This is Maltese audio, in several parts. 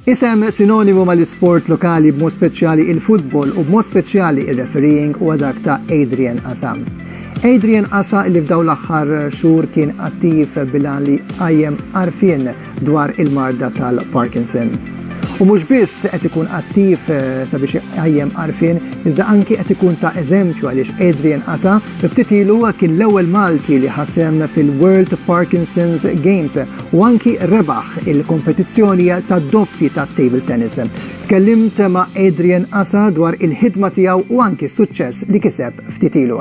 Isem sinonimu mal-isport lokali b'mod speċjali il-futbol u b'mod speċjali il-refereeing u dak ta' Adrian Asam. Adrian Asa li f'daw l-aħħar xhur kien attiv bilan li qajjem arfien dwar il-marda tal-Parkinson. U mhux biss qed ikun attiv eh, sabiex iqajjem għarfien, iżda anki qed ikun ta' eżempju għaliex Adrian Asa ftit ilu kien l-ewwel Malti li ħasem fil-World Parkinson's Games u anki rebaħ il-kompetizzjoni ta' doppji ta' table tennis. Tkellimt ma' Adrian Asa dwar il-ħidma tiegħu u anki s-suċċess li kiseb ftit ilu.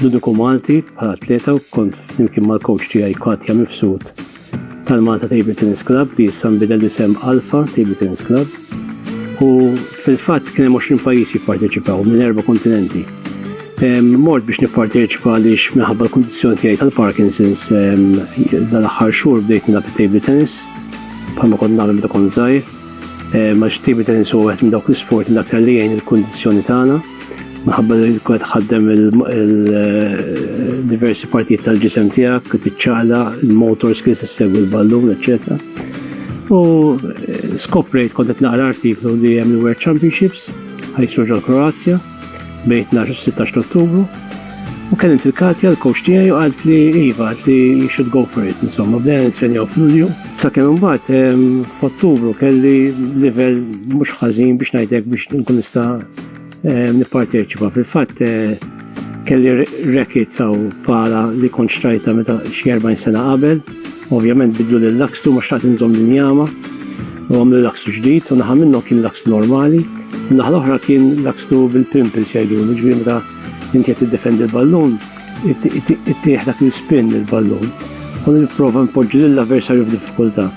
Ludiku Malti bħala atleta u kont flimkien mal-coach tiegħi Katja Mifsud tal-Malta Table Tennis Club li issa nbidel isem Alfa Table Tennis Club. U fil-fatt kien hemm 20 pajjiż jipparteċipaw minn erba' kontinenti. Mort biex nipparteċipa għaliex minħabba l-kundizzjoni tiegħi tal-Parkinson's dal-aħħar xhur bdejt nilgħab table tennis bħalma kont nagħmel meta kont żgħir. Max table tennis huwa wieħed minn dawk l-isport l-aktar li jgħin il-kundizzjoni tagħna. Minħabba li kwet ħaddem il-diversi partijiet tal-ġisem tijak, t-ċala, il-motors kien se segwi l-ballun, eccetera. U eh, skoprejt kontet naqra artiklu li jem il-World Championships, ħajsru ġol Kroazja, bejn 12-16 ottubru. U kien il-Katja, l-coach tijaj, u għalt li Iva, għalt li you should go for it, insomma, bdejna nitrenjaw f'Lulju. Sakemm imbagħad f'Ottubru kelli livell mhux ħażin biex ngħidlek biex nkun nista' nipparteċipa. Fil-fatt kelli rekit saw pala li kont xtrajta meta xi 40 sena qabel, ovvjament bidlu lil lakstu ma xtaqt inżomm din jama u għamlu lakstu ġdid u naħa minnhom kien lakstu normali, naħa l-oħra kien lakstu bil-pimples jgħidu, ġifieri meta inti qed tiddefendi l-ballun, Ittieħ dak l-ispin il-ballun u nipprova npoġġi lill-avversarju f'diffikultà.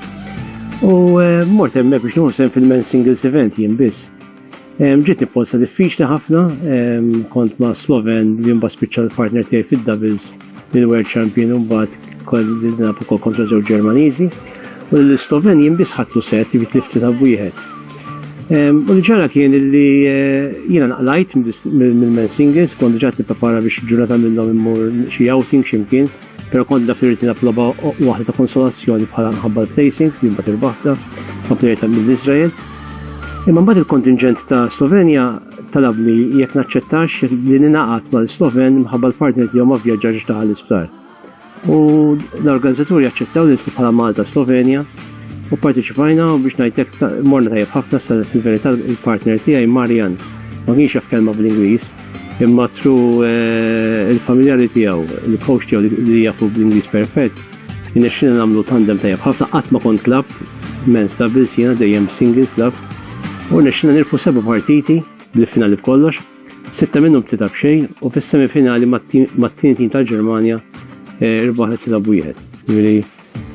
U eh, mort hemmhekk biex nuħsem fil-men singles event jien biss. Ġiet nipposta diffiċli ħafna, kont ma' Sloven li mbagħad spiċċa l-partner tiegħi fid-doubles il-World Champion u mbagħad Kol nilab ukoll kontra żewġ Ġermaniżi u l-Sloveni jimbis ħatlu set li tlifti ta' wieħed. U li ġara kien li eh, jiena naqlajt mill-Mensingers, kont ġat nipprepara biex ġurnata minnhom immur xi outing ximkien, pero kont da firrit nilab loba waħda ta' konsolazzjoni bħala nħabba l-placings li mbagħad irbaħta ma' plejer ta' mill-Iżrael. Imma mbagħad il-kontingent ta' Slovenja talabni jekk naċċettax li ninaqat mal-Sloven mħabba l-partner tiegħu ma vjaġġax ta' l-isptar. U l-organizzaturi jaċċettaw li nitlu bħala Malta Slovenja u parteċipajna u biex najtek morna tajjeb ħafna sa fil-verità il-partner tiegħi Marian. Ma kienx jaf kelma bl-Ingliż, imma tru eh, il-familjari tiegħu, il-coach tiegħu li jafu bl-Ingliż perfett, innexxina nagħmlu tandem tajjeb ħafna qatt ma kont klab men stabil jiena dejjem singles lab u nexxina nirfu seba' partiti bl-finali b'kollox. Sitta minnhom tlita b'xejn u fis-semifinali mat-tieni tim tal-Ġermanja eh, irbaħ tlita b'wieħed. Jiġifieri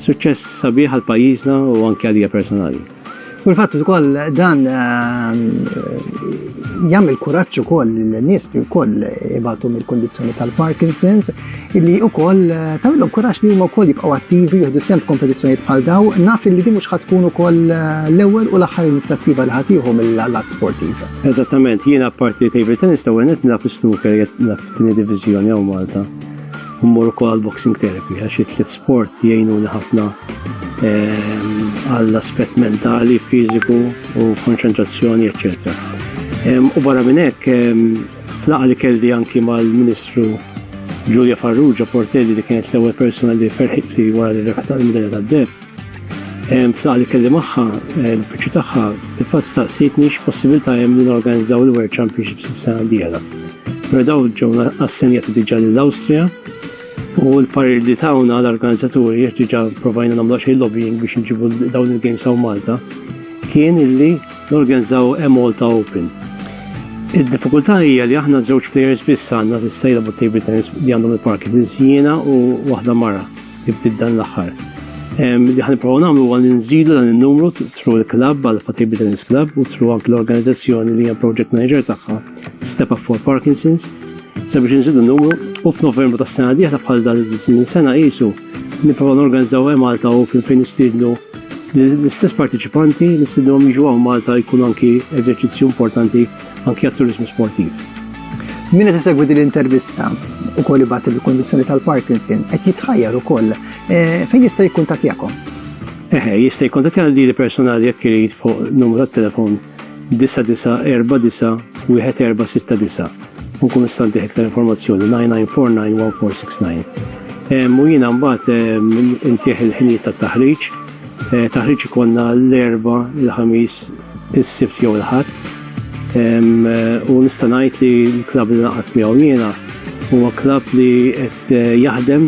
suċċess sabiħ għal pajjiżna u anke għalija personali. Fil-fatt ukoll dan eh, jagħmel kuraġġ ukoll lin-nies li wkoll ibatu mill-kondizzjoni tal-Parkinson's li u koll eh, tawillom kurax li huma wkoll jibqgħu attivi jieħdu sem kompetizzjonijiet bħal daw, naf li din mhux ħatkun ukoll eh, l-ewwel u l-aħħar inizjattiva li ħatiħu mill-allat sportiv. Eżattament, jiena parti table tennis ta' għenet naf snooker naf tini divizjoni għaw Malta. Mmur ukoll boxing therapy għax it-tliet sport jgħinuni ħafna eh, għall-aspett mentali, fiżiku u konċentrazzjoni, eccetera. U barra minn hekk F'laqgħa li kelli anki mal-Ministru Julia Farrugia Portelli li kienet l-ewwel persuna li ferħit li wara li rebħet għal-Medalja tad-Deb. F'laqgħa li kelli magħha l-uffiċċju tagħha fil-fatt staqsitni x'possibilità hemm li norganizzaw il-World Championships is-sena d-dieħla. Però daw ġew assenjati diġà lill-Awstrija u l-parir li tawna l-organizzaturi jiex diġà provajna nagħmlu xejn lobbying biex nġibu dawn il-games hawn Malta kien illi Norganizzaw e-Malta Open. Id-diffikultà hija li aħna żewġ players biss għandna fis-sejla bu table tennis li għandhom il-parki fil-Siena u waħda mara li bdiet dan l-aħħar. Li ħan provaw nagħmlu huwa li nżidu dan in-numru tru l-klabb għal Fatibli Tennis Club u tru anke l-organizzazzjoni li hija project manager tagħha Step Up for Parkinson's sabiex nżidu n-numru u f'Novembru tas-sena diħla bħal dan minn sena qisu Nipprova norganizzaw hemm Malta u fejn nistiednu l-istess partiċipanti li sidhom jiġu għaw Malta jkun anki eżerċizzju importanti anki għat-turizmu sportiv. Min qed isegwi din l-intervista u koll ibgħat il-kondizzjoni tal-Parkinson qed jitħajjar ukoll eh, fejn jista' jikkuntattjakom. Eħe, jista' jikkuntattjana li personali jekk irid fuq numru tat-telefon 99491469 u nkun nista' ntih iktar informazzjoni 99491469. U jiena mbagħad intih il-ħinijiet tat-taħriġ. Eh, taħriġ ikonna l-erba, il-ħamis, is-sibt jew il-ħadd. Eh, u nista' ngħid li l-klabb li naqgħod miegħu jiena huwa klabb li qed eh, jaħdem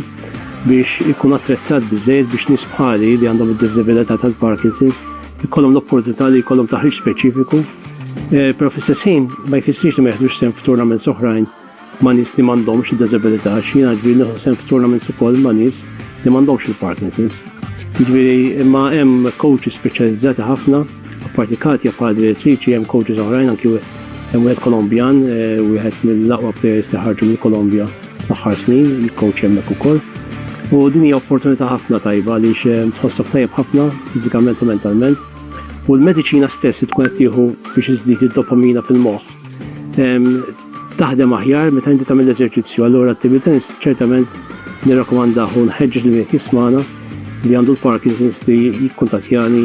biex ikun attrezzat bizzejt biex nisbħali li għandhom id-disabilità tal-Parkinson's Ikollhom l-opportunità li jkollhom taħriġ speċifiku, eh, però fl-istess ħin ma jfissirx li ma jeħdux sehem f'tournaments oħrajn ma' nies li m'għandhomx id-diżabilità, x'jiena ġbir neħu sehem f'tournaments ukoll ma' nies li m'għandhomx il-Parkinson's. Ġifieri imma hemm coaches speċjalizzati ħafna, apparti Katja bħala direttriċi hemm coaches oħrajn anki hemm wieħed Kolombjan, eh, wieħed mill-aqwa players li ħarġu mill-Kolombja Fl-aħħar snin, il-coach hemmhekk ukoll. U din hija opportunità ħafna tajba li eh, tħossok tajjeb ħafna fiżikament u mentalment. U l-mediċina stess tkun qed tieħu biex iżdid id-dopamina fil-moħħ. Ehm, taħdem aħjar meta inti tagħmel eżerċizzju, allura attività ċertament nirrakkomandaħu nħeġġeġ li qed jismana li għandu l-Parkinson's li jikkuntatjani